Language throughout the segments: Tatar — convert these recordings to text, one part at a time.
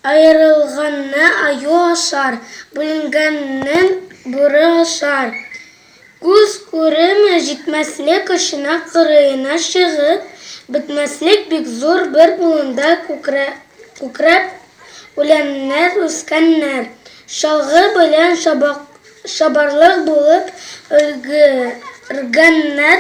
Аерылганны аю ашар, бүленгәннен бүре ашар. Күз күреме җитмәслек очына кырыена чыгып, бетмәслек бик зур бер болында күкрәп үләннәр үскәннәр. Чалгы белән чабарлык булып өлгергәннәр,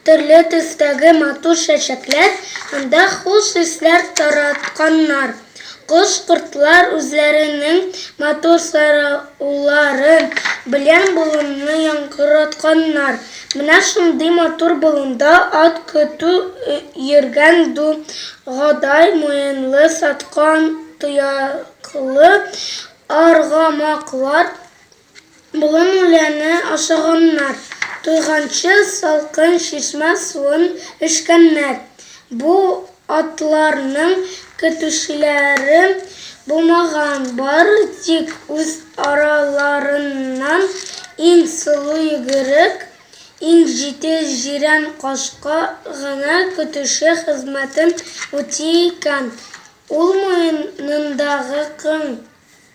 төрле төстәге матур чәчәкләр анда хуш исләр таратканнар. Кош-кортлар үзләренең матур сайраулары белән болынны яңгыратканнар. Менә шундый матур болында ат көтү йөргән ду гадай муенлы саткан тояклы аргамаклар Болын үләне ашаганнар. Туйганчы салкын чишмә суын эчкәннәр. Бу атларның көтүчеләре булмаган, бары тик үз араларыннан иң сылу йөгерек, иң җитез җирән кашка гына көтүче хезмәтен үти икән. Ул муенындагы кың.